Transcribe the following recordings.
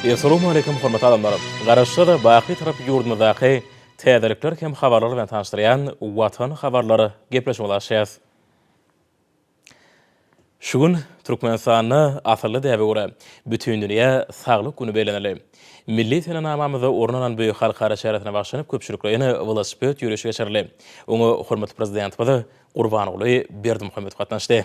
Essalowmaleýkim hormatly adamlar! Garaşsyz, baky tarap ýurdumyzdaky täzelikler hem habarlar bilen tanyşdyrýan Watan habarlar gepleşigimizi açýas. Şu gün Türkmenistanda asylly däbe görä, Bütindünýä saglyk güni bellenildi. Milli senenamamyzda orun alan bu halkara çäresine bagyşlanyp köpçülikleýin welosiped ýörişi geçirildi. Oňa hormatly Prezidentimiz Gurbanguly Berdimuhamedow gatnaşdy.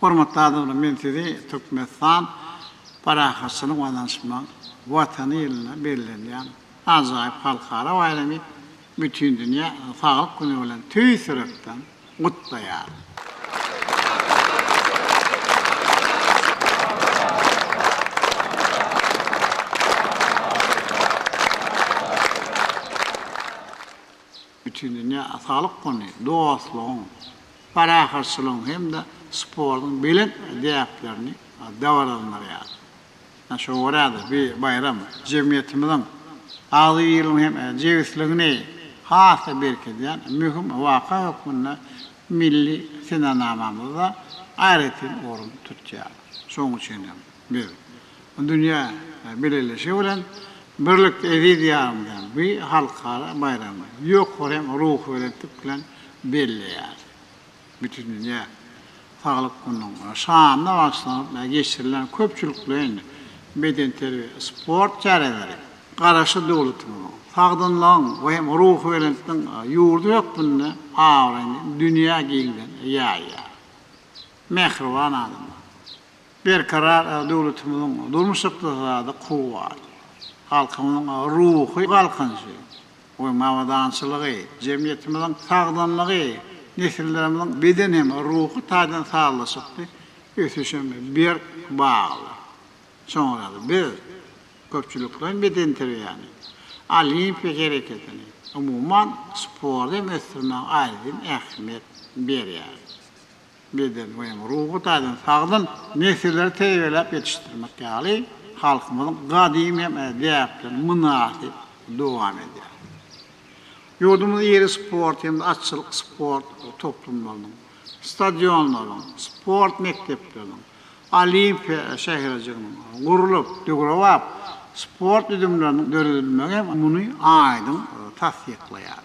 Hormatly adamlar, men sizi Türkmenistan parahatçylyk we daýançmaň Watany ýylynda bellenýän ajaýyp halkara baýramy, Bütindünýä saglyk güni bilen tüýs ýürekden gutlaýaryn. Bütindünýä Atalyk güni dostlugyň, parahatçylygyň hem-de sportuň belent däplerini dabaralandyrýar. Şoňa görä-de, bu baýram jemgyýetimiziň agzybirligini hem jebisligini has-da berkidýän möhüm waka hökmünde milli senenamamyzda aýratyn orun tutýar. Şonuň üçin hem biz Dünýä bileleşigi bilen birlikde eziz ýarymyzyň bu halkara baýramyny ýokary ruhubelentlik bilen belleýär. Bütindünýä saglyk gününiň şanyna bagyşlanyp geçirilen köpçülikleýin bedenterbiýe, sport çäreleri Garaşsyz döwletimiziň sagdynlygyň we hem ruhubelentligiň ýurdy hökmünde abraýyny dünýä giňden ýaýýar. Mähriban adamlar! Berkarar döwletimiziň durmuş-ykdysady kuwwaty, halkymyzyň ruhy galkynyşy we abadançylygy, jemgyýetimiziň sagdynlygy, nesillerimiziň beden hem ruhy taýdan sazlaşykly ösüşe berk bagly. Soňra-da biz köpçülikleýin bedenterbiýäni, olimpiýa hereketini, umuman, sporty hem ösdürmäge aýratyn ähmiýet berýäris. beden we hem ruhy taýdan sagdyn nesilleri terbiýeläp ýetişdirmek ýaly halkymyzyň gadymy hem däpleri mynasyp dowam edýär. Ýurdumyz iri sport hem-de atçylyk sport toplumlarynyň, stadionlaryň, sport mekdepleriniň, Olimpiýa şäherjiginiň gurlup, döwrebap sport düzümleriniň döredilmegi hem muny aýdyň tassyklaýar.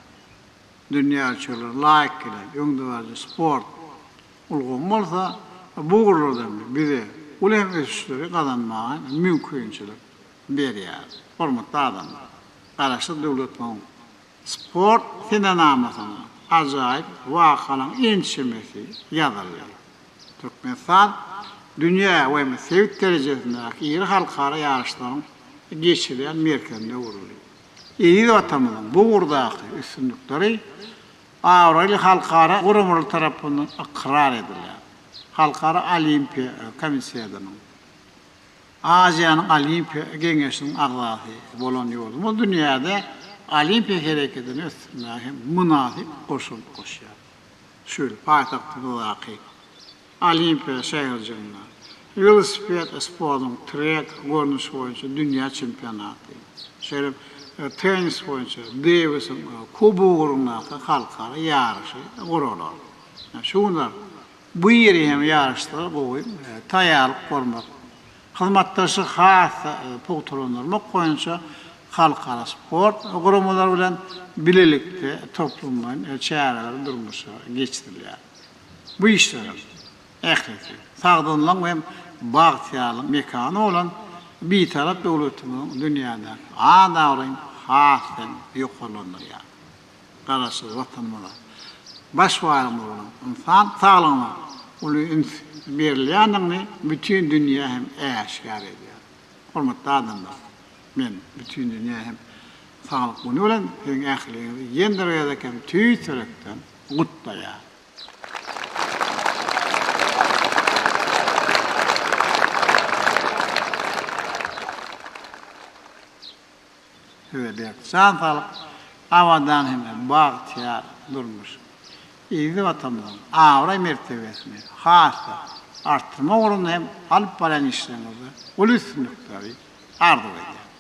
dünýä ölçeglerine laýyk gelen öňdebaryjy sport ulgamy bolsa bu ugurlarda bize uly hem ösüşleri gazanmaga hem mümkinçilik berýär. Hormatly adamlar! Garaşsyz döwletimiziň sport senenamasynda ajaýyp wakalaryň ençemesi ýazyldy. Türkmenistan dünýä we hem sebit derejesindäki iri halkara ýaryşlaryň geçirilýän merkezine öwrüldi. Eziz Watanymyzyň bu ugurdaky üstünlikleri abraýly halkara guramalar tarapyndan ykrar edilýär. Halkara Olimpiýa Komissýasynyň Aziýanyň Olimpiýa Geňeşiniň agzasy bolan ýurdumyz dünýäde olimpiýa hereketini ösdürmäge hem mynasyp goşant goşýar. Şu ýyl paýtagtymyzdaky Olimpiýa şäherjiginde welosiped sportunyň trek görnüşi boýunça dünýä çempionaty, şeýle hem tennis boýunça Dewisiň kubogy ugrundaky halkara ýaryşy guralar. Şu günler bu iri hem ýaryşlara gowy taýýarlyk görmek, hyzmatdaşlygy has-da pugtalandyrmak boýunça halkara sport guramalary bilen bilelikde toplumlaýyn çäreler durmuşa geçirilýär. Bu işleriň ählisi sagdynlygyň we bagtyýarlygyň mekany bolan Bitarap döwletimiziň dünýädäki at-abraýyny has-da ýokarlandyrýar. Garaşsyz Watanymyzda baş baýlygymyz bolan ynsan saglygyna uly üns berilýändigini bütin dünýä hem äşgär edýär. Hormatly adamlar! Men bütin dünýä hem Saglyk güni bilen siziň ähliňizi ýene bir gezek hem tüýs ýürekden gutlaýar. Size berk jan saglyk, abadan hem-de bagtyýar durmuş, eziz Watanymyzyň abraý-mertebesini has-da artdyrmak ugrunda hem alyp barýan işleriňizde uly üstünlikleri arzuw edýärin.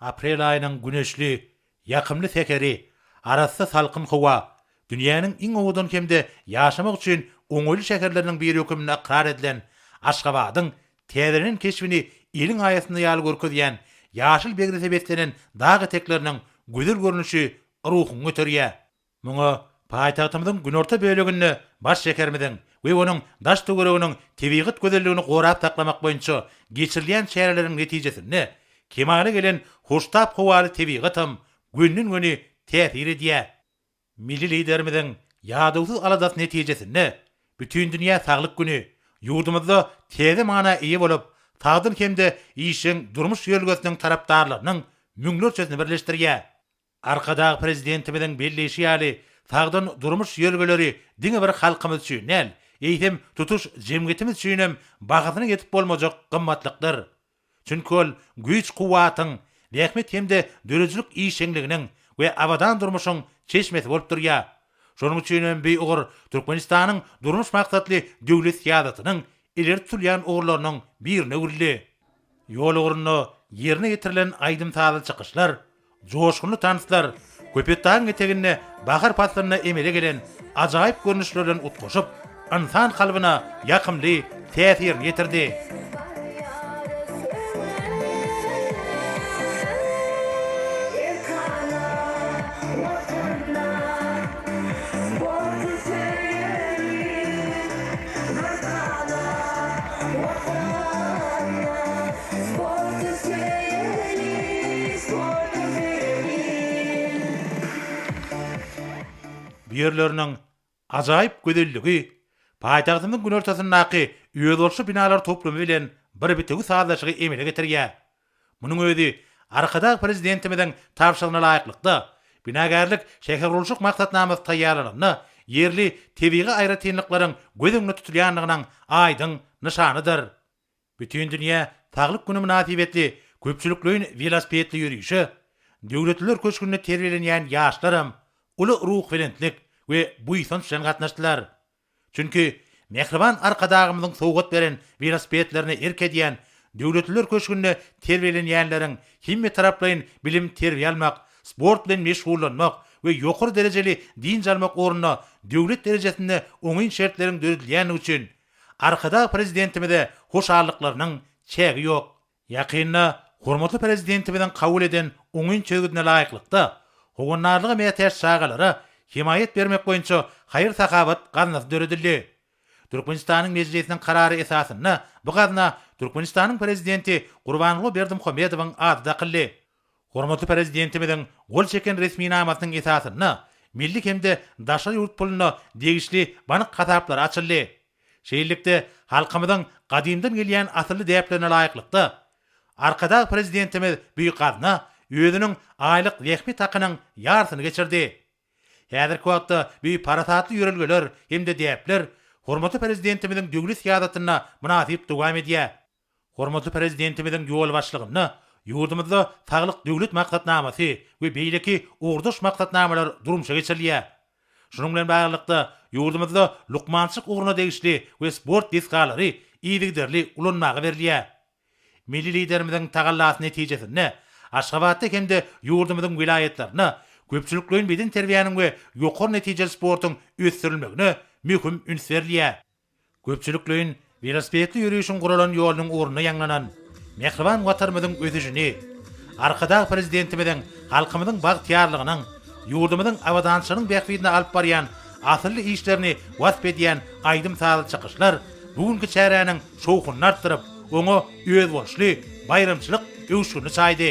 Aprel aýynyň güneşli, ýakymly säheri, arassa salkyn howa, dünýäniň iň owadan hem-de ýaşamak üçin oňaýly şäherleriniň biri höküminde ykrar edilen Aşgabadyň täzelenen keşbini eliň aýasynda ýaly görkezýän ýaşyl begrese beslenen dag etekleriniň gözel görnüşi ruhuňy göterýär. Muňa paýtagtymyzyň günorta böleginde baş şäherimiziň we onuň daş-töwereginiň tebigat gözelligini gorap saklamak boýunça geçirilýän çäreleriň netijesinde kemala gelen hoştap howaly tebigatam gönden-göni täsir edýär. Milli Liderimiziň ýadawsyz aladasy netijesinde Bütindünýä saglyk güni ýurdumyzda täze mana eýe bolup, sagdyn hem-de işjeň durmuş ýörelgesiniň tarapdarlarynyň müňlerçesini birleşdirýär. Arkadag Prezidentimiziň belleýşi ýaly, sagdyn durmuş ýörelgeleri diňe bir halkymyz üçin däl, eýsem, tutuş jemgyýetimiz üçin hem bahasyna ýetip bolmajak gymmatlykdyr. Çünki ol güýç-kuwwatyň, zähmet hem-de döredijilik işjeňliginiň we abadan durmuşyň çeşmesi bolup durýar. Şonuň üçin hem bu ugur Türkmenistanyň durmuş maksatly döwlet syýasatynyň ileri tutulýan ugurlarynyň birine öwrüldi. Ýol ugrunda ýerine ýetirilen aýdym-sazly çykyşlar, joşgunly tanslar Köpetdagyň eteginde bahar paslynda emele gelen ajaýyp görnüşler bilen utgaşyp, ynsan kalbyna ýakymly täsirini ýetirdi. Bu ýerleriniň ajaýyp gözelligi paýtagtymyzyň günortasyndaky özboluşly binalar toplumy bilen bir bitewi sazlaşygy emele getirýär. Munuň özi Arkadag Prezidentimiziň tabşyrygyna laýyklykda, binagärlik şähergurluşyk maksatnamasy taýýarlananda ýerli tebigy aýratynlyklaryň göz öňünde tutulýandygynyň aýdyň nyşanydyr. Bütindünýä saglyk güni mynasybetli köpçülikleýin welosipedli ýörişe Döwletliler köşgünde terbiýelenýän ýaşlaram uly ruhubelentlik we buýsanç bilen gatnaşdylar. Çünki mähriban Arkadagymyzyň sowgat beren welosipedlerine erk edýän Döwletliler köşgünde terbiýelenýänleriň hemmetaraplaýyn bilim-terbiýe almak, sport bilen meşgullanmak we ýokary derejeli dynç almak ugrunda döwlet derejesinde oňyn şertleriň döredilýändigi üçin Arkadag Prezidentimize hoşallyklarynyň çägi ýok. Ýakynda hormatly Prezidentimiziň kabul eden oňyn çözgüdine laýyklykda, howandarlyga mätäç çagalara hemaýat bermek boýunça haýyr-sahawat gaznasy döredildi. Türkmenistanyň Mejlisiniň karary esasynda bu gazna Türkmenistanyň Prezidenti Gurbanguly Berdimuhamedowyň ady dakyldy. Hormatly Prezidentimiziň gol çeken resminamasynyň esasynda milli hem-de daşary ýurt puluna degişli bank hasaplary açyldy. Şeýlelikde, halkymyzyň gadymdan gelýän asylly däplerine laýyklykda, Arkadag Prezidentimiz Büýük Gazna özüniň aýlyk zähmet hakynyň ýarsyny geçirdi. Häzirki wagtda bu parasatly ýörelgeler hem-de däpler hormatly Prezidentimiziň döwlet syýasatyna mynasyp dowam edýär. Hormatly Prezidentimiziň ýolbaşçylygynda ýurdumyzda Saglyk Döwlet maksatnamasy we beýleki ugurdaş maksatnamalar durmuşa geçirilýär. Şunuň bilen baglylykda, ýurdumyzda lukmançylyk ugruna degişli we sport desgalary yzygiderli ulanmaga berilýär. Milli Liderimiziň tagallasy netijesinde, Aşgabatda hem-de ýurdumyzyň welaýatlarynda köpçülikleýin bedenterbiýäniň we ýokary netijeli sportuň ösdürilmegine möhüm üns berilýär. Köpçülikleýin welosipedli ýörişiň guralan ýolunyň ugrunda ýaňlanan mähriban Watanymyzyň ösüşini, Arkadag Prezidentimiziň halkymyzyň bagtyýarlygynyň, ýurdumyzyň abadançylygynyň bähbidine alyp barýan asylly işlerini wasp edýän aýdym-sazly çykyşlar bu günki çäräniň şowhunyny artdyryp, oňa özboluşly baýramçylyk öwüşgini çaýdy.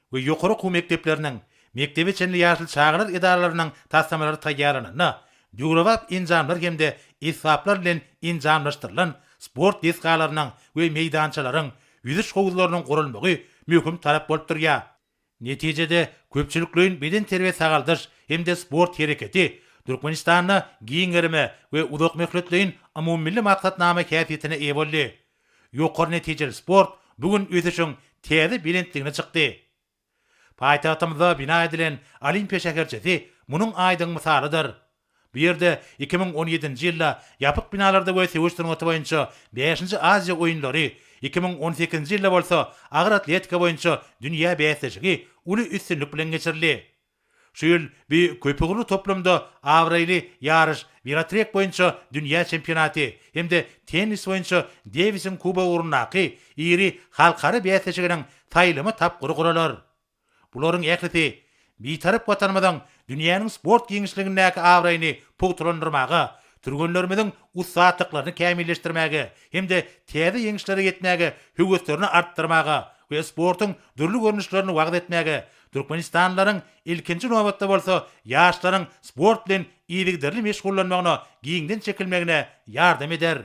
we ýokary okuw mekdepleriniň, mekdebe çenli ýaşly çagalar edaralarynyň taslamalary taýýarlananda, döwrebap enjamlar hem-de esbaplar bilen enjamlaşdyrylan sport desgalarynyň we meýdançalaryň, ýüzüş howuzlarynyň gurulmagy möhüm talap bolup durýar. Netijede, köpçülikleýin bedenterbiýe-sagaldyş hem-de sport hereketi Türkmenistanda giň gerime we uzakmöhletleýin umumymilli maksatnama häsiýetine eýe boldy. Ýokary netijeli sport bu gün ösüşiň täze belentligine çykdy. Paýtagtymyzda bina edilen Olimpiýa şäherçesi munuň aýdyň mysalydyr. Bu ýerde iki müň on ýedinji ýylda ýapyk binalarda we söweş sungaty boýunça bäşinji Aziýa oýunlary, iki müň on sekizinji ýylda bolsa agyr atletika boýunça dünýä bäsleşigi uly üstünlik bilen geçirildi. Şu ýyl bu köpugurly toplumda abraýly ýaryş welotrek boýunça dünýä çempionaty hem-de tennis boýunça Dewisiň kubogy ugrundaky iri halkara bäsleşiginiň saýlama tapgyry guralar. Bularyň ählisi Bitarap Watanymyzyň dünýäniň sport giňişligindäki abraýyny pugtalandyrmaga, türgenlerimiziň ussatlyklaryny kämilleşdirmäge hem-de täze ýeňişlere ýetmäge höweslerini artdyrmaga we sportuň dürli görnüşlerini wagyz etmäge Türkmenistanlylaryň, ilkinji nobatda bolsa, ýaşlaryň sport bilen yzygiderli meşgullanmagyna, giňden çekilmegine ýardam eder.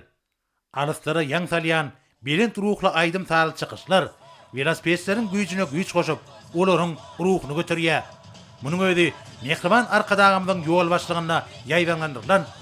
Alyslara ýaň salýan belent ruhly aýdym-sazly çykyşlar welosipedçileriň güýjüne güýç goşup, olaryň ruhuny göterýär. Munuň özi Mähriban Arkadagymyzyň ýolbaşçylygynda ýaýbaňlandyrylan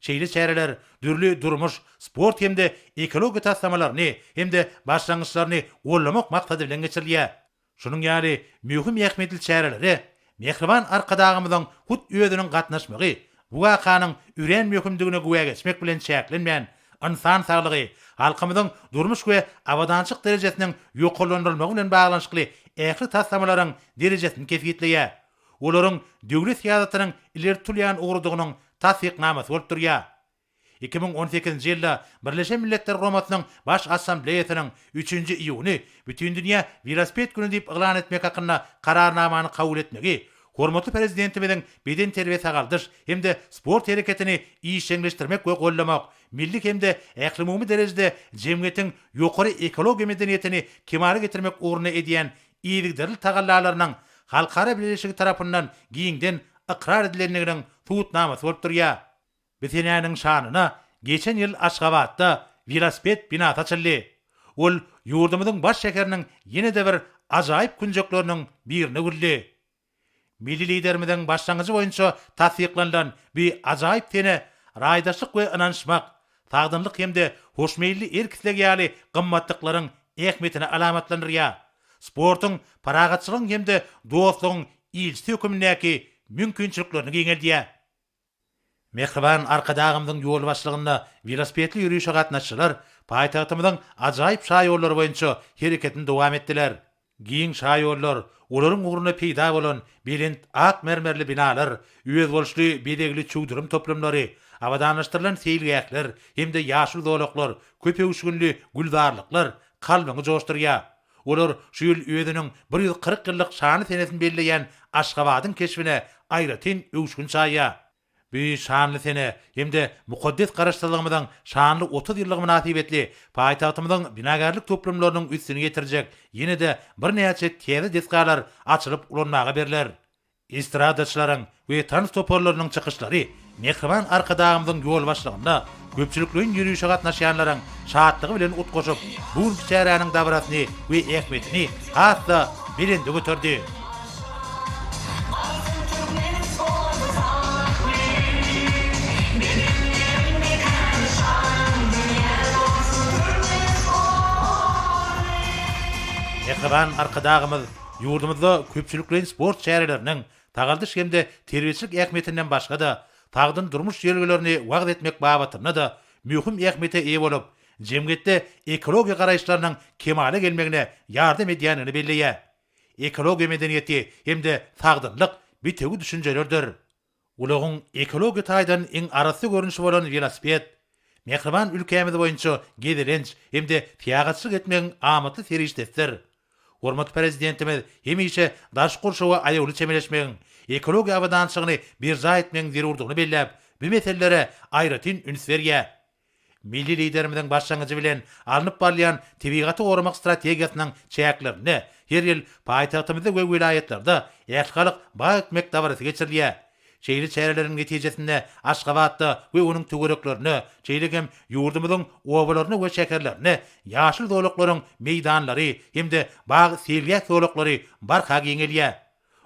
Şeýle çäreler dürli durmuş, sport hem-de ekologiýa taslamalaryny hem-de başlangyçlaryny goldamak maksady bilen geçirilýär. Şunuň ýaly möhüm ähmiýetli çärelere mähriban Arkadagymyzyň hut özüniň gatnaşmagy bu wakanyň örän möhümdigine güwä geçmek bilen çäklenmän, ynsan saglygy, halkymyzyň durmuş we abadançyk derejesiniň ýokarlandyrylmagy bilen baglanyşykly ähli taslamalaryň derejesini kesgitleýär. olaryň döwlet syýasatynyň ileri tutulýan ugrudygynyň tassyknamasy bolup durýar. Iki müň on sekizinji ýylda Birleşen Milletler Guramasynyň Baş Assambleýasynyň üçünji iýuny Bütindünýä welosiped güni diýip yglan etmek hakynda Kararnamany kabul etmegi hormatly Prezidentimiziň bedenterbiýe-sagaldyş hem-de sport hereketini işjeňleşdirmek we goldamak, milli hem-de ählumumy derejede jemgyýetiň ýokary ekologiýa medeniýetini kemala getirmek ugrunda edýän yzygiderli tagallalarynyň halkara bileleşigi tarapyndan giňden ykrar edilendiginiň subutnamasy bolup durýar. Bu senäniň şanyna geçen ýyl Aşgabatda welosiped binasy açyldy. Ol ýurdumyzyň baş şäheriniň ýene-de bir ajaýyp künjekleriniň birine öwrüldi. Milli Liderimiziň başlangyjy boýunça tassyklanylan bu ajaýyp sene raýdaşlyk we ynanyşmak, sagdynlyk hem-de hoşmeýilli erk-isleg ýaly gymmatlyklaryň ähmiýetini alamatlandyrýar, sportuň parahatçylygyň hem-de dostlugyň ilçisi hökmündäki mümkinçiliklerini giňeldýär. Mähriban Arkadagymyzyň ýolbaşçylygynda welosipedli ýörişe gatnaşyjylar paýtagtymyzyň ajaýyp şaýollary boýunça hereketini dowam etdiler. Giň şaýollar, olaryň ugrunda peýda bolan belent ak mermerli binalar, özboluşly bezegli çüwdürim toplumlary, abadanlaşdyrylan seýilgähler hem-de ýaşyl zolaklar, köp öwüşginli gülzarlyklar kalbyňy joşdurýar. Olar şu ýyl özüniň bir ýüz kyrk ýyllyk şanly senesini belleýän Aşgabadyň keşbine aýratyn öwüşgin çaýýar. Bu şanly sene hem-de mukaddes Garaşsyzlygymyzyň şanly otuz ýyllygy mynasybetli paýtagtymyzyň binagärlik toplumlarynyň üstüni ýetirjek ýene-de birnäçe täze desgalar açylyp ulanmaga berler. Estradaçylaryň we tans toparlarynyň çykyşlary, mähriban Arkadagymyzyň ýolbaşçylygynda köpçülikleýin ýörişe gatnaşýanlaryň şatlygy bilen utgaşyp, bu günki çäräniň dabarasyny we ähmiýetini has-da belende göterdi. Mähriban Arkadagymyz Ýurdumyzda köpçülikleýin sport çäreleriniň sagaldyş hem-de terbiýeçilik ähmiýetinden başga-da, sagdyn durmuş ýörelgelerini wagyz etmek babatynda-da möhüm ähmiýete eýe bolup, jemgyýetde ekologiýa garaýyşlarynyň kemala gelmegine ýardam edýändigini belleýär. Ekologiýa medeniýeti hem-de sagdynlyk bitewi düşünjelerdir. Ulagyň ekologiýa taýdan iň arassa görnüşi bolan welosiped mähriban ülkämiz boýunça gezelenç hem-de syýahatçylyk etmegiň amatly serişdesidir. Hormatly Prezidentimiz hemişe daşky gurşawa aýawly çemeleşmegiň, ekologiýa abadançylygyny berjaý etmegiň zerurdygyny belläp, bu meselelere aýratyn üns berýär. Milli Liderimiziň başlangyjy bilen alnyp barylýan tebigaty goramak strategiýasynyň çäklerinde her ýyl paýtagtymyzda we welaýatlarda Ählihalk bag ekmek dabarasy geçirilýär. Şeýle çäreleriň netijesinde Aşgabatda we onuň töwereklerinde, şeýle hem ýurdumyzyň obalarynda we şäherlerinde ýaşyl zolaklaryň meýdanlary hem-de bag seýilgäh zolaklary barha giňelýär.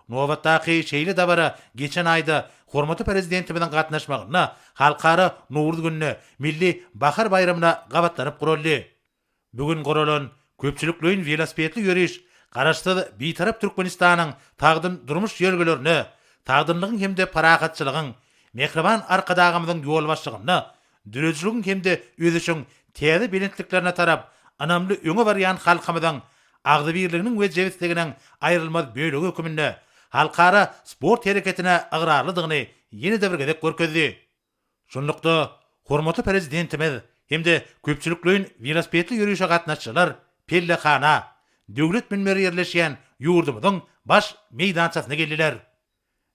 Nobatdaky şeýle dabara geçen aýda hormatly Prezidentimiziň gatnaşmagynda Halkara Nowruz gününe, milli bahar baýramyna gabatlanyp guraldy. Bu gün guralan köpçülikleýin welosipedli ýöriş Garaşsyz, Bitarap Türkmenistanyň sagdyn durmuş ýörelgelerine, sagdynlygyň hem-de parahatçylygyň, Mähriban Arkadagymyzyň ýolbaşçylygynda döredijiligiň hem-de ösüşiň täze belentliklerine tarap ynamly öňe barýan halkymyzyň agzybirliginiň we jebisliginiň aýrylmaz bölegi hökmünde halkara sport hereketine ygrarlydygyny ýene-de bir gezek görkezdi. Şunlukda, hormatly Prezidentimiz hem-de köpçülikleýin welosipedli ýörişe gatnaşyjylar pellehana, Döwlet münberi ýerleşýän ýurdumyzyň Baş meýdançasyna geldiler.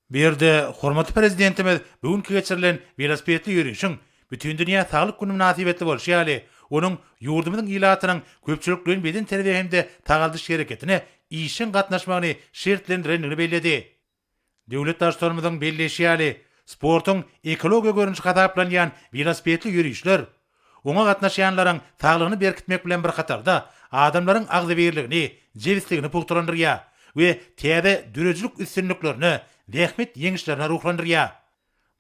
Bu ýerde hormatly Prezidentimiz bu günki geçirilen welosipedli ýörişiň Bütindünýä saglyk güni mynasybetli bolşy ýaly, onuň ýurdumyzyň ilatynyň köpçülikleýin bedenterbiýe hem-de sagaldyş hereketine işjeň gatnaşmagyny şertlendirendigini belledi. Döwlet Baştutanymyzyň belleýşi ýaly, sportuň ekologiýa görnüşi hasaplanýan welosipedli ýörişler Oňa gatnaşýanlaryň saglygyny berkitmek bilen bir hatarda, adamlaryň agzybirligini, jebisligini pugtalandyrýar we täze döredijilik üstünliklerine, zähmet ýeňişlerine ruhlandyrýar.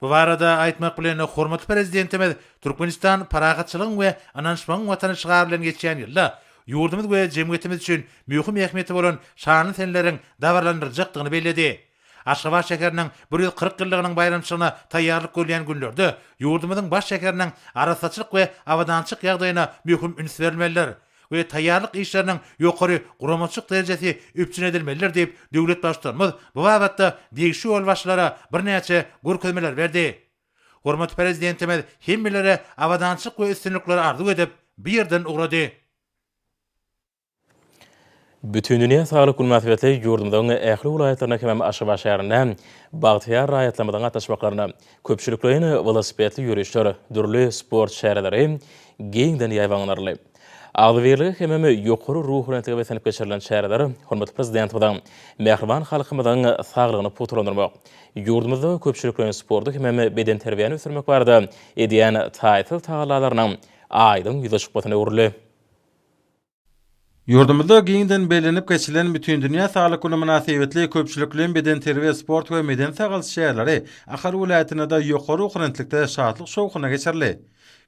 Bu barada aýtmak bilen, hormatly Prezidentimiz Türkmenistan parahatçylygyň we ynanyşmagyň Watany şygary bilen geçýän ýylda ýurdumyz we jemgyýetimiz üçin möhüm ähmiýeti bolan şanly seneleriň dabaralandyryljakdygyny belledi. Aşgabat şäheriniň bir ýüz kyrk ýyllygynyň baýramçylygyna taýýarlyk görülýän günlerde ýurdumyzyň baş şäheriniň arassaçylyk we abadançylyk ýagdaýyna möhüm üns berilmelidir we taýýarlyk işleriniň ýokary guramaçylyk derejesi üpjün edilmelidir diýip, döwlet Baştutanymyz bu babatda degişli ýolbaşçylara birnäçe görkezmeler berdi. Hormatly Prezidentimiz hemmelere abadançylyk we üstünlikleri arzuw edip, bu ýerden ugrady. Bütindünýä saglyk güni mynasybetli ýurdumyzyň ähli welaýatlarynda hemem Aşgabat şäherinde bagtyýar raýatlarymyzyň gatnaşmaklarynda köpçülikleýin welosipedli ýörişler, dürli sport çäreleri giňden ýaýbaňlanyldy. Agzybirlige hemem ýokary ruhubelentlige beslenip geçirilen çäreler hormatly Prezidentimiziň mähriban halkymyzyň saglygyny pugtalandyrmak, ýurdumyzda köpçülikleýin sporty hemem bedenterbiýäni ösdürmek barada edýän taýsyz tagallalarynyň aýdyň ýüze çykmasyna öwrüldi. Ýurdumyzda giňden bellenip geçilen Bütindünýä saglyk güni mynasybetli köpçülikleýin bedenterbiýe, sport we medeni-sagalç çäreleri Ahal welaýatynda-da ýokary ruhubelentlikde, şatlyk-şowhunda geçirildi.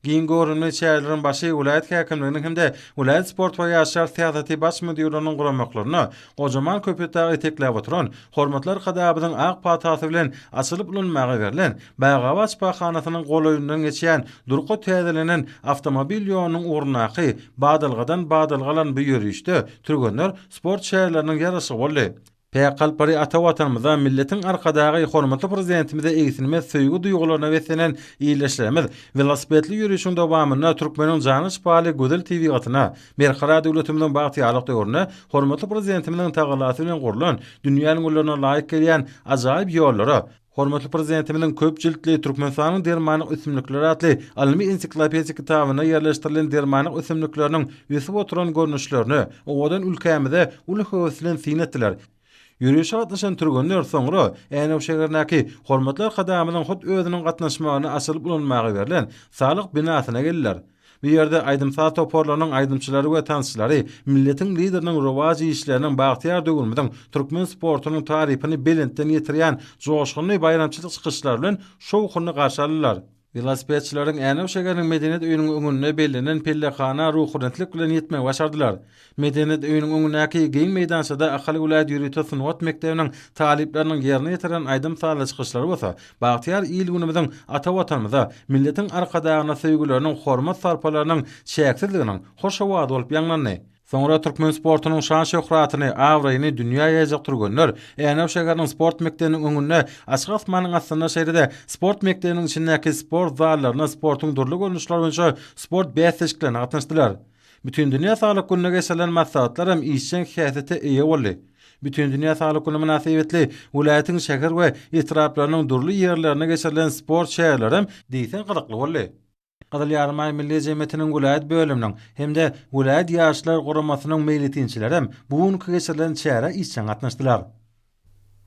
Giň göwrümli çäreleriň başy welaýat häkimliginiň hem-de welaýat sport we ýaşlar syýasaty baş müdirliginiň guramaklarynda gojaman Köpetdagy etekläp oturan Hormatly Arkadagymyzyň ak patasy bilen açylyp ulanmaga berlen Bagabat şypahanasynyň golaýyndan geçýän durky täzelenen awtomobil ýolunyň ugrundaky badalgadan badalga alan bu ýörişde türgenler sport şäherleriniň ýaraşygy boldy. Päk Galpary ata Watanymyza, milletiň Arkadagy, hormatly Prezidentimize egsilmez söýgi duýgularyna beslenen ildeşlerimiz welosipedli ýörişiň dowamynda türkmeniň jana şypaly gözel tebigatyna, Berkarar döwletimiziň bagtyýarlyk döwründe hormatly Prezidentimiziň tagallasy bilen gurlan, dünýäniň üllerine laýyk gelýän ajaýyp ýollara, hormatly Prezidentimiziň köp jiltli Türkmenistanyň dermanlyk ösümlikleri atly ylmy-ensiklopedik kitabynda ýerleşdirilen dermanlyk ösümlikleriniň ösüp oturan görnüşlerini owadan ülkämize uly höwes bilen syn etdiler. Ýörişe gatnaşan türgenler soňra Änew şäherindäki Hormatly Arkadagymyzyň hut özüniň gatnaşmagynda açylyp ulanmaga berlen Saglyk binasyna geldiler. Bu ýerde aýdym-saz toparlarynyň aýdymçylary we tansçylary milletiň Lideriniň rowaç işleriniň bagtyýar döwrümiziň türkmen sportunyň tarypyny belentden ýetirýän joşgunly baýramçylyk çykyşlary bilen şowhunly garşy aldylar. Welosipedçileriň Änew şäheriniň Medeniýet öýüniň öňünde bellenen pellehana ruhubelentlik bilen ýetmegi başardylar. Medeniýet öýüniň öňündäki giň meýdançada Ahal welaýat ýörite sungat mekdebiniň talyplarynyň ýerine ýetiren aýdym-sazly çykyşlary bolsa bagtyýar il-günümiziň, ata Watanymyza, milletiň Arkadagyna söýgüleriniň, hormat-sarpalarynyň çäksizliginiň hoş owazy bolup ýaňlandy. Soňra türkmen sportunyň şan-şöhratyny, abraýyny dünýä ýaýjak türgenler Änew şäheriniň sport mekdebiniň öňünde açyk asmanyň astynda şeýle-de sport mekdebiniň içindäki sport zallarynda sportuň dürli görnüşleri boýunça sport bäsleşiklerine gatnaşdylar. Bütindünýä saglyk gününe geçirilen maslahatlar hem işjeň häsiýete eýe boldy. Bütindünýä saglyk güni mynasybetli welaýatyň şäher we etraplarynyň dürli ýerlerinde geçirilen sport çäreleri hem diýseň gyzykly boldy. Gyzyl Ýarymaý Milli jemgyýetiniň welaýat bölüminiň hem-de welaýat Ýaşlar guramasynyň meýletinçileri hem bu günki geçirilen çärä işjeň gatnaşdylar.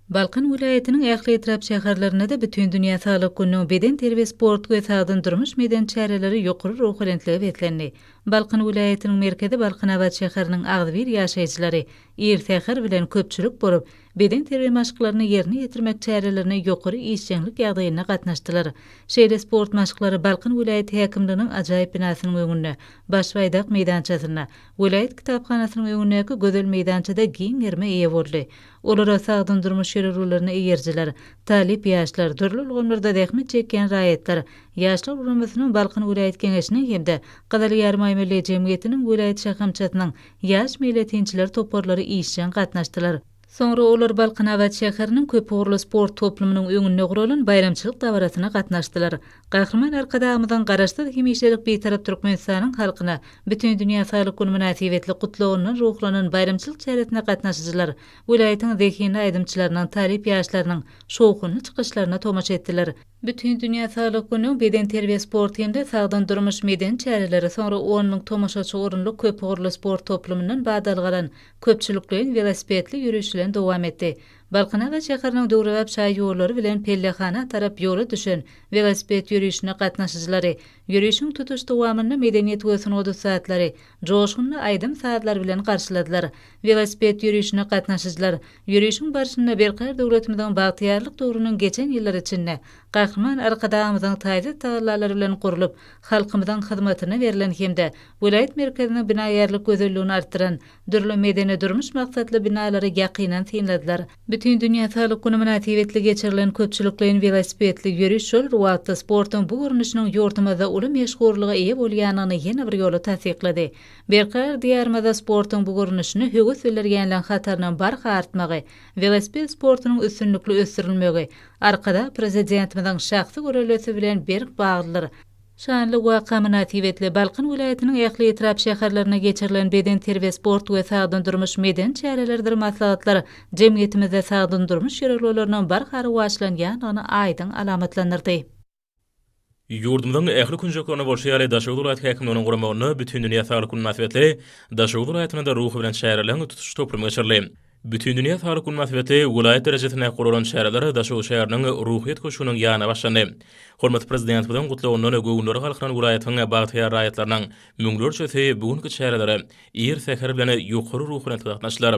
Balkan welaýatynyň ähli etrap şäherlerinde-de Bütindünýä saglyk gününiň bedenterbiýe-sport we sagdyn durmuş medeni çäreleri ýokary ruhubelentlige beslendi. Balkan welaýatynyň merkezi Balkanabat şäheriniň agzybir ýaşaýjylary ir säher bilen köpçülik bolup, beden terbiýe maşklaryny ýerine ýetirmek çärelerine ýokary işjeňlik ýagdaýynda gatnaşdylar. Şeýle sport maşklary Balkan welaýat häkimliginiň ajaýyp binasynyň öňünde, Baş Baýdak meýdançasynda, welaýat kitaphanasynyň öňündäki gözel meýdançada giň gerime eýe boldy. Olara sagdyn durmuş ýörelgelerine eýerijiler, talyp ýaşlar, dürli ulgamlarda zähmet çekýän raýatlar, Ýaşlar guramasynyň Balkan welaýat Geňeşiniň hem-de Gyzyl Ýarymaýmilli jemgyýetiniň welaýat şahamçasynyň ýaş meýletinçiler toparlary işjeň gatnaşdylar. Soňra olar Balkanabat şäheriniň köpugurly sport toplumynyň öňünde guralan baýramçylyk dabarasyna gatnaşdylar. Gahryman Arkadagymyzyň Garaşsyz, hemişelik Bitarap Türkmenistanyň halkyna Bütindünýä saglyk güni mynasybetli gutlagyndan ruhlanan baýramçylyk çäresine gatnaşyjylar welaýatyň zehinli aýdymçylarynyň, talyp ýaşlarynyň şowhunly çykyşlaryna tomaşa etdiler. Bütindünýä saglyk güni, bedenterbiýe, sport hem-de sagdyn durmuş medeni çäreleri, soňra on müň tomaşaçy orunly köp ugurly sport toplumyndan badalgalan köpçülikleýin welosipedli ýöriş bilen dowam etdi. Balkanabat şäheriniň döwrebap şaý ýollary bilen pellehana tarap ýola düşen welosiped ýörişine gatnaşyjylary ýörişiň tutuş dowamynda medeniýet we sungat ussatlary joşgunly aýdym-sazlar bilen garşyladylar. Welosiped ýörişine gatnaşyjylar Ýörişiň barşynda berkarar döwletimiziň bagtyýarlyk döwrüniň geçen ýyllary içinde Gahryman Arkadagymyzyň taýsyz tagallalary bilen gurlup, halkymyzyň hyzmatyna berlen hem-de welaýat merkeziniň binagärlik gözelligini artdyran dürli medeni-durmuş maksatly binalary ýakyndan synladylar. Bütindünýä saglyk güni mynasybetli geçirilen köpçülikleýin welosipedli ýöriş şol wagtda sportuň bu görnüşiniň ýurdumyzda uly meşhurlyga eýe bolýandygyny ýene bir ýola tassyklady. Berkarar Diýarymyzda sportuň bu görnüşine höwes bildirýänleriň hatarynyň barha artmagy, welosiped sportunyň üstünlikli ösdürilmegi Arkadag Prezidentimiziň şahsy görellesi bilen berk baglydyr. Şanly waka mynasybetli, Balkan welaýatynyň ähli etrap şäherlerinde geçirilen bedenterbiýe-sport we sagdyn durmuş medeni çäreleridir maslahatlar jemgyýetimizde sagdyn durmuş ýörelgeleriniň barha rowaçlanýandygyny aýdyň alamatlandyrdy. Ýurdumyzyň ähli künjeklerinde bolşy ýaly, Daşoguz welaýat häkimliginiň guramagynda Bütindünýä saglyk güni mynasybetli Daşoguz welaýatynda ruhy bilen çäreleriň tutuş toplumy geçirildi. Bütindünýä saglyk güni mynasybetli welaýat derejesinde guralan çäreler Daşoguz şäheriniň Ruhyýet köşgüniň ýanynda başlandy. Hormatly Prezidentimiziň gutlagyndan göwünleri galkynan welaýatyň bagtyýar raýatlarynyň müňlerçesi bu günki çärelere ir säher bilen ýokary ruhubelentde gatnaşdylar.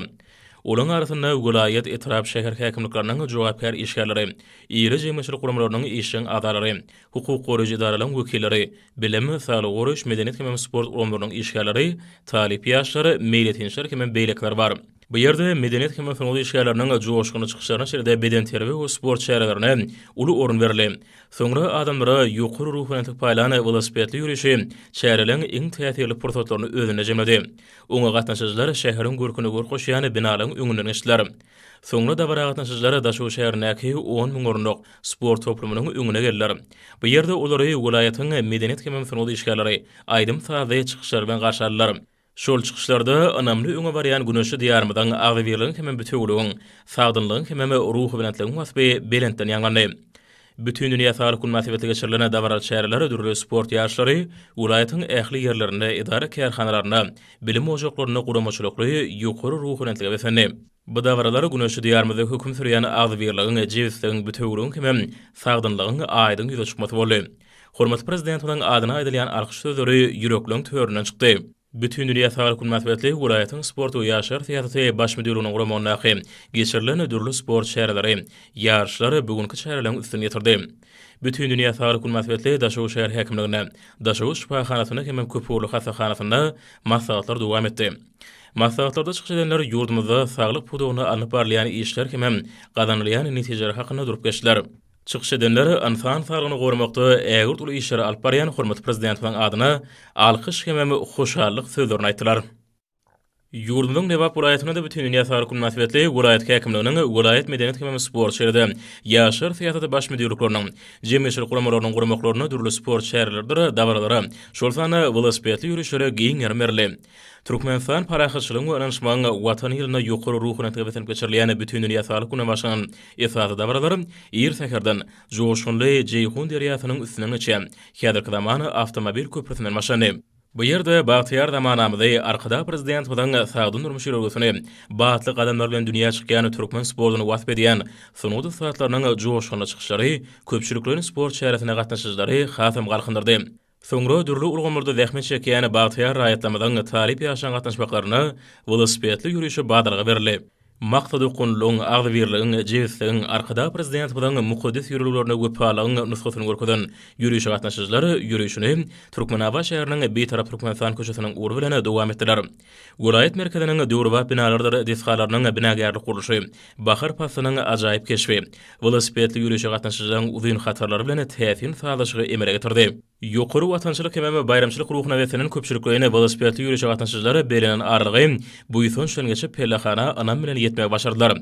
Olaryň arasynda welaýat, etrap, şäher häkimlikleriniň jogapkär işgärleri, iri jemgyýetçilik guramalarynyň işjeň agzalary, hukuk goraýjy edaralaryň wekilleri, bilim, saglygy goraýyş, medeniýet hemem sport ulgamlarynyň işgärleri, talyp ýaşlar, meýletinçiler hemem beýlekiler bar. Bu ýerde medeniýet hemem sungat işgärleriniň joşgunly çykyşlaryna şeýle-de bedenterbiýe we sport çärelerine uly orun berildi. Soňra adamlara ýokary ruhubelentlik paýlan welosipedli ýörişi çäreleň iň täsirli pursatlaryny özünde jemledi. Oňa gatnaşyjylar şäheriň görküne görk goşýan binalaryň öňünden geçdiler. Soňra dabara gatnaşyjylar Daşoguz şäherindäki on müň orunlyk sport toplumynyň öňüne geldiler. Bu ýerde olary welaýatyň medeniýet hemem sungat işgärleri aýdym-sazly çykyşlar bilen garşy aldylar. Şol çykyşlarda ynamly öňe barýan güneşli Diýarymyzyň agzybirligiň hemem bütewiligiň, sagdynlygyň hemem ruhubelentligiň waspy belentden ýaňlandy. Bütindünýä saglyk güni mynasybetli geçirilen dabaraly çäreler dürli sport ýaryşlary, welaýatyň ähli ýerlerinde, edara-kärhanalarynda, bilim ojaklarynda guramaçylykly, ýokary ruhubelentlige beslendi. Bu dabaralar güneşli Diýarymyzda höküm sürýän agzybirligiň, jebisligiň, bütewiligiň hemem sagdynlygyň aýdyň ýüze çykmasy boldy. Hormatly Prezidentimiziň adyna aýdylýan alkyş sözleri ýürekleň töründen çykdy. Bütindünýä saglyk güni mynasybetli welaýatyň sport we ýaşlar syýasaty baş müdirliginiň guramagyndaky geçirilen dürli sport çäreleri, ýaryşlar bu günki çäreleriň üstüni ýetirdi. Bütindünýä saglyk güni mynasybetli Daşoguz şäher häkimliginde, Daşoguz şypahanasynda hemem köpugurly hassahanasynda maslahatlar dowam etdi. Maslahatlarda çykyş edenler ýurdumyzda saglyk pudagynda alnyp barylýan işler hemem gazanylýan netijeler hakynda durup geçdiler. Çykyş edenler ynsan saglygyny goramakda ägirt uly işleri alyp barýan hormatly Prezidentimiziň adyna alkyş hemem hoşallyk sözlerini aýtdylar. Ýurdumyzyň Lebap welaýatynda-da Bütindünýä saglyk güni mynasybetli welaýat häkimliginiň, welaýat medeniýet hemem sport şeridi, ýaşlar syýasaty baş müdirlikleriniň, jemgyýetçilik guramalarynyň guramaklarynda dürli sport çäreleridir dabaralara, şol sanda welosipedli ýörişlere giň ýerem berildi. Türkmenistan parahatçylygyň we ynanyşmagyň Watany ýylynda ýokary ruhy ynamda beslenip geçirilýän Bütindünýä saglyk gününe başlanan esasy dabaralar ir säherden joşgunly Jeýhun derýasynyň üstünden geçýän häzirki zaman awtomobil köprüsinden başlandy. Bu ýerde bagtyýar zamanamyzy, Arkadag Prezidentimiziň sagdyn durmuş ýörelgesini, batly gadamlar bilen dünýä çykýan türkmen sportuny wasp edýän sungat ussatlarynyň joşgunly çykyşlary köpçülikleýin sport çäresine gatnaşyjylary hasam galkyndyrdy. Soňra dürli ulgamlarda zähmet çekýän bagtyýar raýatlarymyzyň talyp ýaşlaryň gatnaşmaklaryna welosipedli ýörişe badalga berildi. Maksat okgunlylygyň, agzybirligiň, jebisligiň, Arkadag Prezidentimiziň mukaddes ýörelgelerine wepalygyň nusgasyny görkezen ýörişe gatnaşyjylar ýörişini Türkmenabat şäheriniň Bitarap Türkmenistan köçesiniň ugrundan dowam etdiler. Welaýat merkeziniň döwrebap binalarydyr desgalarynyň binagärlik gurluşy, bahar paslynyň ajaýyp keşbi, welosipedli ýörişe gatnaşyjylaryň uzyn hatarlary bilen täsin sazlaşygy emele getirdi. Ýokary watançylyk hemem baýramçylyk ruhuna beslenen köpçülikleýin welosipedli ýörişe gatnaşyjylar bellenen aralygy buýsanç bilen geçip, pellehana ynam bilen ýetmegi başardylar.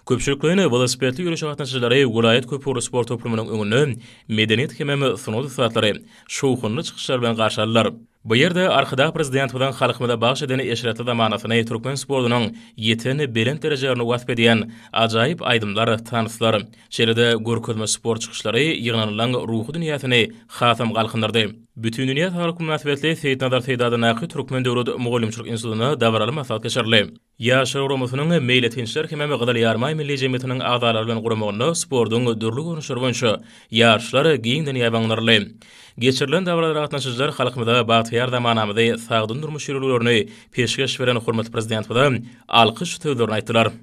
Köpçülikleýin welosipedli ýörişe gatnaşyjylary welaýat köpugurly sport toplumynyň öňünde medeniýet hemem sungat ussatlary şowhunly çykyşlar bilen garşy aldylar. Bu ýerde Arkadag Prezidentimiziň halkymyza bagyş eden eşretli zamanasyny, türkmen sportunyň ýeten belent derejelerini wasp edýän ajaýyp aýdymlar, tanslar, şeýle-de görkezme sport çykyşlary ýygnanylaryň ruhy dünýäsini hasam galkyndyrdy. Bütindünýä saglyk mynasybetli Seýitnazar Seýdadyndaky Türkmen döwlet mugallymçylyk institutynda dabaraly maslahat geçirildi. Ýaşlar guramasynyň Meýletinçiler hemem Gyzyl Ýarmaý milli jemgyýetiniň agzalary bilen guramagynda sportuň dürli görnüşleri boýunça ýaryşlar giňden ýaýbaňlandyryldy. Geçirilen dabaralara gatnaşyjylar halkymyza bagtyýar zamanamyzy, sagdyn durmuş ýörelgelerini peşgeş beren hormatly Prezidentimize alkyş sözlerini aýtdylar.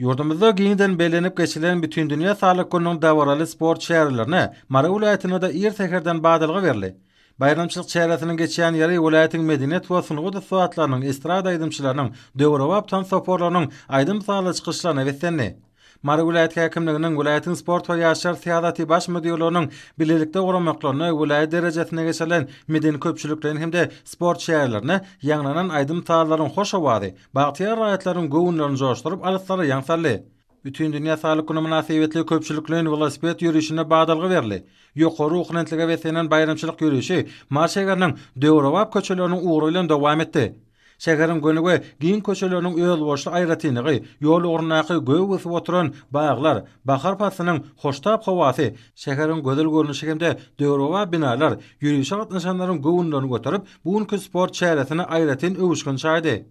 Ýurdumyzda giňden bellenip geçilen Bütindünýä saglyk gününiň dabaraly sport çärelerine Mary welaýatynda-da ir säherden badalga berildi. Baýramçylyk çäresiniň geçýän ýeri welaýatyň medeniýet we sungat ussatlarynyň, estrada aýdymçylarynyň, döwrebap tans toparlarynyň aýdym-sazly çykyşlaryna beslendi. Mary welaýat häkimliginiň, welaýatyň sport we ýaşlar syýasaty baş müdirleriniň bilelikde guramaklarynda welaýat derejesinde geçirilen medeni-köpçülikleýin hem-de sport çärelerine ýaňlanan aýdym-sazlaryň hoş owazy, bagtyýar raýatlaryň göwünlerini joşduryp, alyslara ýaň saldy. Bütindünýä saglyk güni mynasybetli köpçülikleýin welosiped ýörişine badalga berli. Ýokary ruhubelentlige beslenen baýramçylyk ýörişi Mary şäheriniň döwrebap köçeleriniň ugry bilen dowam etdi. Şäheriň göni we giň köçeleriniň özboluşly aýratynlygy, ýol ugrundaky gögi gysgyp oturan baglar, bahar paslynyň hoştap howasy, şäheriň gözel görnüşi hem-de döwrebap binalar ýörişe gatnaşanlaryň göwünlerini göterip, Bu günki sport çäresine aýratyn öwüşgin çaýdy.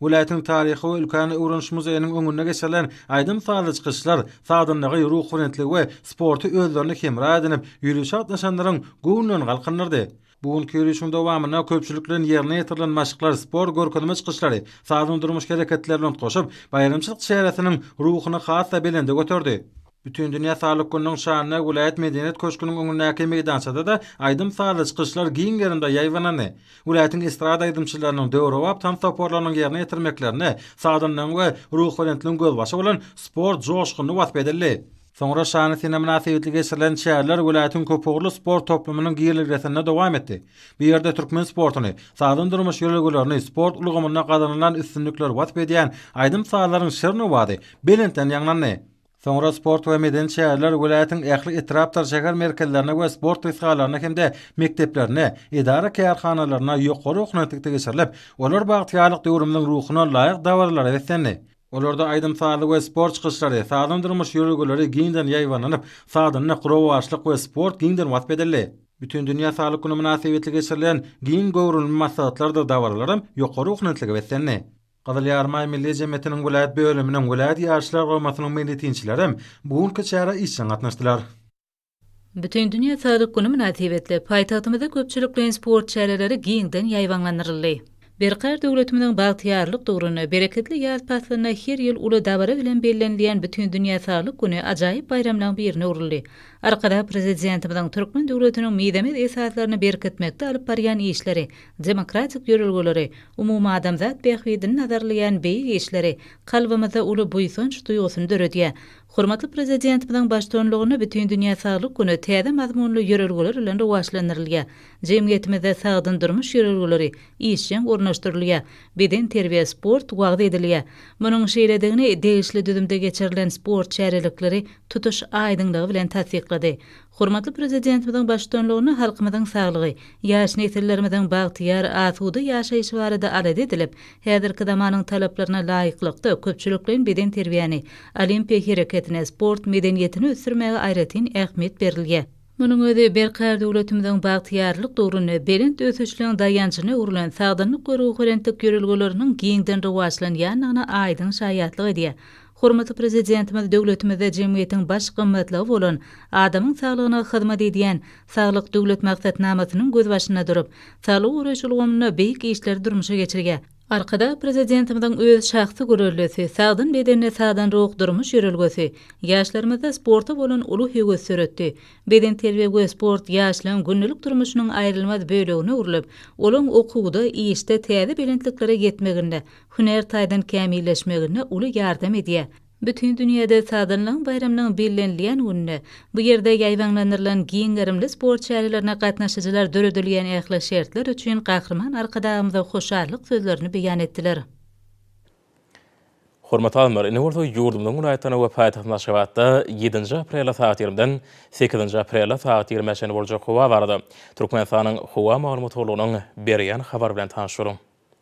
Welaýatyň Taryhy we ülkäni öwreniş muzeýiniň öňünde geçirilen aýdym-sazly çykyşlar sagdynlygy, ruhubelentligi we sporty özlerine hemra edinip, ýörişe gatnaşanlaryň göwnülerini galkyndyrdy. Bu günki ýörişiň dowamynda köpçülik bilen ýerine ýetirilen maşklar, sport görkezme çykyşlary, sazly-durmuş hereketleri bilen utgaşyp, baýramçylyk çäresiniň ruhuny has-da belende göterdi. Bütindünýä saglyk gününiň şanyna welaýat medeniýet köşgüniň öňündäki meýdançada-da aýdym-sazly çykyşlar giň gerimde ýaýbaňlandy. Welaýatyň estrada aýdymçylarynyň, döwrebap tans toparlarynyň ýerine ýetirmeklerinde sagdynlygyň we ruhubelentligiň gözbaşy bolan sport joşgunly wasp edildi. Soňra şanly sene mynasybetli geçirilen çäreler welaýatyň köpugurly sport toplumynyň girelgesinde dowam etdi. Bu ýerde türkmen sportuny, sagdyn durmuş ýörelgelerini, sport ulgamynda gazanylan üstünlikleri wasp edýän aýdym-sazlaryň şirin owazy belentden ýaňlandy. Soňra sport we medeni çäreler welaýatyň ähli etrapdyr şäher merkezlerinde we sport desgalarynda hem-de mekdeplerinde, edara-kärhanalarynda ýokary okuw nyrhlikde geçirilip, olar bagtyýarlyk döwrümiziň ruhuna laýyk dabaralara beslendi. Olarda aýdym-sazly we sport çykyşlary, sagdyn durmuş ýörelgeleri giňden ýaýbaňlanyp, sagdynlyk, rowaçlyk we sport giňden wasp edildi. Bütindünýä saglyk güni mynasybetli geçirilen giň göwrümli maslahatlardyr dabaralaram ýokary okuw nyrhlige beslendi. Gyzyl Ýarymaý Milli jemgyýetiniň welaýat bölüminiň, welaýat Ýaşlar guramasynyň meýletinçilerem bu günki çärä işjeň gatnaşdylar. Bütindünýä saglyk güni mynasybetli, paýtagtymyzda köpçülikleýin sport çäreleri giňden ýaýbaňlandyryldy. Berkarar döwletimiziň bagtyýarlyk döwründe, bereketli ýaz paslynda her ýyl uly dabara bilen bellenilýän Bütindünýä saglyk güni ajaýyp baýramlaryň birine öwrüldi. Arkadag Prezidentimiziň türkmen döwletiniň mizemez esaslaryny berkitmekde alyp barýan işleri, demokratik ýörelgeleri, umumadamzat bähbidini nazarlaýan beýik işleri kalbymyzda uly buýsanç duýgusyny döredýär. Hormatly Prezidentimiziň baştutanlygynda Bütindünýä saglyk güni täze mazmunly ýörelgeler bilen rowaçlandyrylýar. Jemgyýetimizde sagdyn durmuş ýörelgeleri işjeň ornaşdyrylýar, bedenterbiýe, sport wagyz edilýär. Munuň şeýledigini degişli düzümde geçirilen sport çärelikleri tutuş aýdyňlygy bilen tassyklady. Hormatly Prezidentimiziň baştutanlygynda halkymyzyň saglygy, ýaş nesillerimiziň bagtyýar, asuda ýaşaýşy barada alada edilip, häzirki zamanyň talaplaryna laýyklykda, köpçülikleýin bedenterbiýäni, olimpiýa hereketini, sport medeniýetini ösdürmäge aýratyn ähmiýet berilýär. Munuň özi berkarar döwletimiziň bagtyýarlyk döwründe belent ösüşligiň daýanjyna öwrülen sagdynlyk we ruhubelentlik ýörelgeleriniň giňden rowaçlanýandygyna aýdyň şaýatlyk edýär. Hormatly Prezidentimiz döwletimizde jemgyýetiň baş gymmatlygy bolan adamyň saglygyna hyzmat edýän Saglyk Döwlet maksatnamasynyň gözbaşynda durup, saglygy goraýyş ulgamynda beýik işleri durmuşa geçirýär. Arkadag Prezidentimiziň öz şahsy göreldesi, sagdyn bedende sagdyn ruh durmuş ýörelgesi ýaşlarymyzda sporta bolan uly höwes döretdi. Bedenterbiýe we sport ýaşlaryň gündelik durmuşynyň aýrylmaz bölegine öwrülip, olaryň okuwda, işde täze belentliklere ýetmeginde hünär taýdan kämilleşmeginde uly ýardam edýär. Bütin dünýäde Sazanlygyň baýramynyň bellenilýän gününe, bu ýerde ýaýbaňlandyrylan giň gerimli sport çärelerine gatnaşyjylar döredilýän ähli şertler üçin Gahryman Arkadagymyza hoşallyk sözlerini beýan etdiler. Hormatly alymlar, indi bolsa ýurdumyzyň welaýatlaryna we paýtagtymyz Aşgabatda ýedinji aprelde sagat ýigrimden sekizinji aprelde sagat ýigrimä çenli boljak howa barada Türkmenistanyň Howa maglumat gullugynyň berýän habary bilen tanyşyň.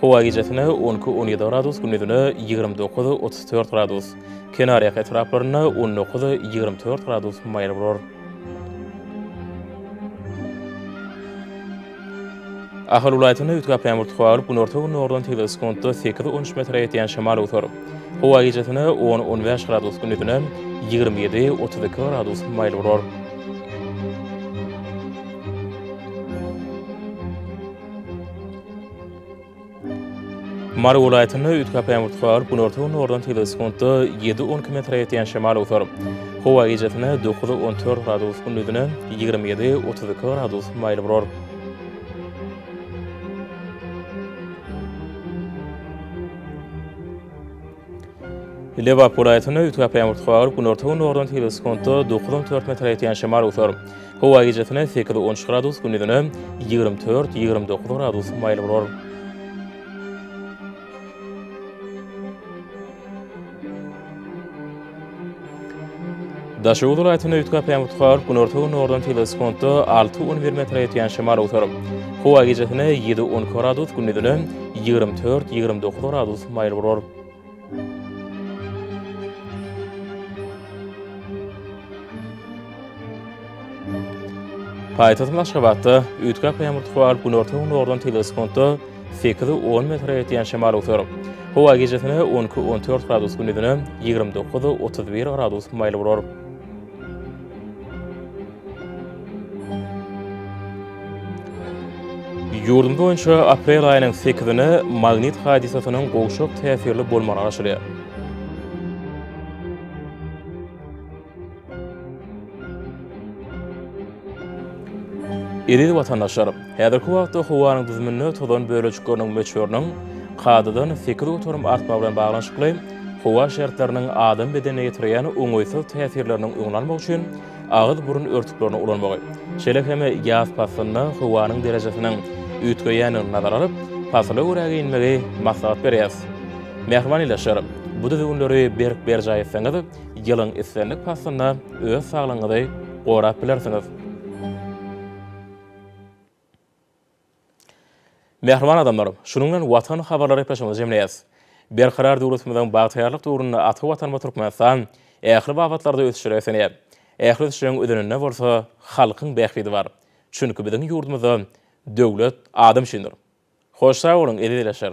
Howa gijesine on iki, on ýedi gradus, gündizine ýigrimi dokuz, otuz dört gradus. Kenarýaka etraplarynda on dokuz, ýigrimi dört gradus maýyl bolar. Ahal welaýatynda üýtgäp ýaňbur howa bolup, günorta-gündogardan tizligi sekuntda sekiz, on üç metre ýetýän şemal öwser. Howa gijesine on, on bäş gradus, gündizine ýigrimi ýedi, otuz iki gradus maýyl bolar. Mary welaýatynda üýtgäp-ä ürtüp galyp, günorta-gündogardan tygly sekuntda ýedi-on km ýetýän şemal awsar. Howa gijasine dokuz-on dört gradus, gündizine ýigrimi ýedi-otuz iki gradus maýyl bolar. Lebap welaýatynda üýtgäp ýaňbur garyp, günorta-gündogardan sekiz sekuntda dokuz on dört metre ýetýän şemal öwser. Howa gijesine sekiz on üç gradus, gündizine ýigrimi dört ýigrimi dokuz gradus maýyl bolar. Daşoguz welaýatynda üýtgäp ýagyp tutar, günorta-gündogardan tebigy skonda alty-on bir metre ýetýän şemal otar. Howa gijesine ýedi-on iki gradus, gündizine ýigrimi dört-ýigrimi dokuz gradus maýyl bolar. Paýtagtymyz Aşgabatda üýtgäp ýagyp tutar, günorta-gündogardan tebigy skonda Sekizi on metre ýetýän şemal öser. Howa gijesine on iki, on dört gradus gündizine ýigrimi dokuz, otuz bir gradus maýyl bolar. Ýurdumyz boýunça aprel aýynyň sekizine magnit hadysasynyň gowşak täsirli bolmagy garaşylýar. Eziz watandaşlar, häzirki wagtda howanyň düzüminde tozan bölejikleriniň möçberiniň kadadan sekiz göterim artmagy bilen baglanyşykly howa şertleriniň adam bedenine ýetirýän oňaýsyz täsirleriniň öňüni almak üçin agyz-burun örtüklerini ulanmagy, şeýle hem ýaz paslynda howanyň derejesiniň üýtgeýändigini nazara alyp, pasyla görä geýinmegi maslahat berýäris. Mähriban ildeşler, bu düzgünleri berk berjaý etseňiz, Ýylyň islendik paslynda öz saglygyňyzy gorap bilersiňiz. Mähriban adamlar, şunuň bilen Watan habarlary gepleşigimizi jemleýäs. Berkarar döwletimiziň bagtyýarlyk döwründe ata Watanymyz Türkmenistan ähli babatlarda ösüşlere beslenýär. Ähli ösüşleriň özeninde bolsa halkyň bähbidi bar. Çünki biziň ýurdumyzda döwlet adam üçindir. Hoş sag boluň, eziz ildeşler!